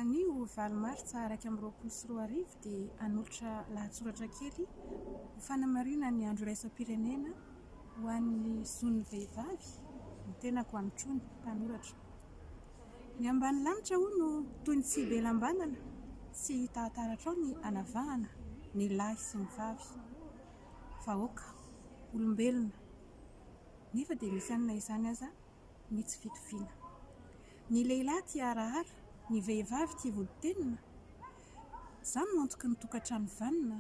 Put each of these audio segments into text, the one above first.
Anio valo martsa iraika amby roapolo sy roa arivo dia hanolotra lahatsoratra kely ho fanamarihana ny andro iraisam-pirenena ho an'ny zon'ny vehivavy ny tenako Hanitr'Ony, mpanoratra. Ny ambany lanitra hoy no toy ny tsy be lambanana, tsy hita ataratra ao ny hanavahana ny lahy sy ny vavy. Vahoaka, olombelona, nefa dia misy anona izany aza. ny tsy fitoviana. Ny lehilahy tia harahara, ny vehivavy tia volontenina. Izany no antoky ny tokantrano vanona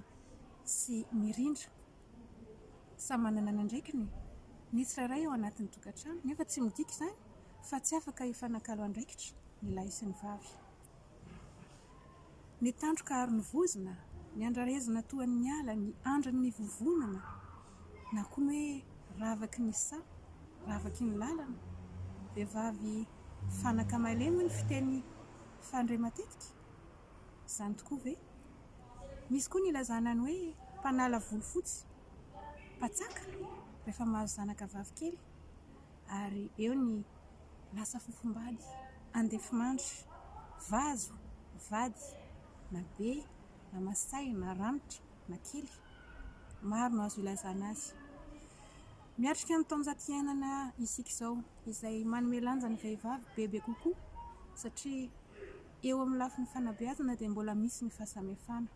sy mirindra. Samy manana ny andraikiny ny tsirairay ao anatin'ny tokantrano, nefa tsy midika izany fa tsy afaka hifanakalo andraikitra ny lahy sy ny vavy. Ny tandroka ary ny vozona, ny andrarezina toa ny ala, ny andrin' ny vovonana, na koa ny hoe ravaky ny saha, ravaky ny lalana. Vehivavy fanaka malemy ny fiteny fandre matetika. Izany tokoa ve? Misy koa ny ilazana ny hoe mpanala volofotsy, mpatsaka, rehefa mahazo zanaka vavikely, ary eo ny Lasa fofombady, andefimandry, vazo, vady, na be, na masahy, na ranitra, na kely. Maro no azo ilazana azy. Miatrika ny taonjato iainana isika izao, izay manome lanja ny vehivavy bebe kokoa, satria eo amin'ny lafiny fanabeazana dia mbola misy ny fahasamihafana.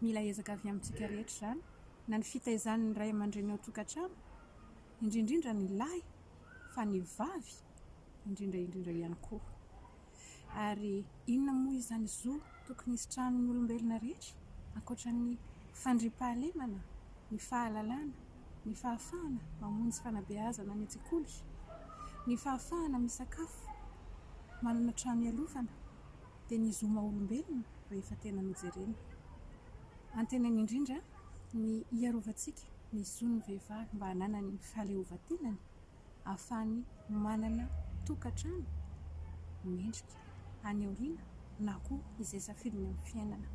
Mila ezaka avy amintsika rehetra izany, na ny fitaizan'ny ray aman-dreny ao an-tokantrano, indrindra indrindra ny lahy, fa ny vavy indrindra indrindra ihany koa. Ary inona moa izany zo tokony hisitrahan'ny olombelona rehetra, ankoatra ny fandriampahalemana, ny fahalalana, ny fahafahana mamonjy fanabeazana any an-tsekoly, ny fahafahana misakafo, manana trano ialofana? dia ny zo maha olombelona rehefa tena nojerena. Antenainy indrindra ny hiarovantsika ny zon'ny vehivavy mba hananany ny fahaleovantenany ahafahany manana tokantrano mendrika any aoriana na koa izay safidiny amin'ny fiainana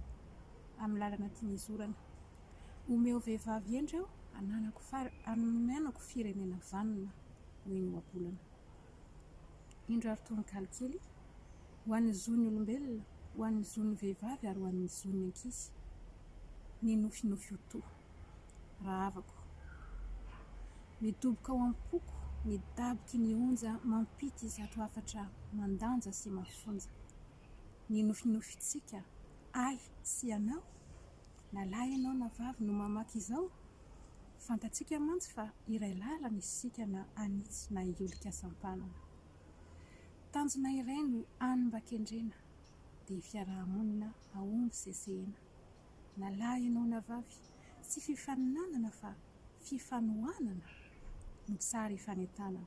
amin'ny lalana tiany hizorana. Omeo vehivavy hendry aho hananako far, hananako firenena vanona, hoy ny ohabolana. Indro ary tononkalo kely ho an'ny zon'ny olombelona, ho an'ny zon'ny vehivavy ary ho an'ny zon'ny ankizy, ny nofinofy ho toa. Rahavako. Midoboka ao am-poko ny daboky ny onja mampity izato hafatra mandanja sy mafonja. Ny nofinofitsika, ahy sy ianao? Na lahy ianao na vavy no mamaky izao, fantatsika mantsy fa iray lalana isika na hanitsy na hiolika sampanana. Tanjona iray no hany mba kendrena, dia fiaraha-monina hahomby sesehena. Na lahy ianao na vavy, tsy fifaninanana fa fifanohanana no tsara hifanentanana.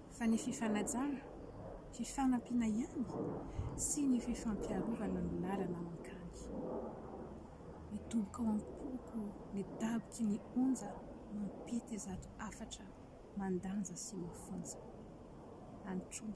fa ny fifanajana, fifanampiana ihany sy ny fifampiarovana no lalana mankany. Midoboka ao am-poko ny daboky ny onja mampety izato hafatra mandanja sy mafonja. Antroy.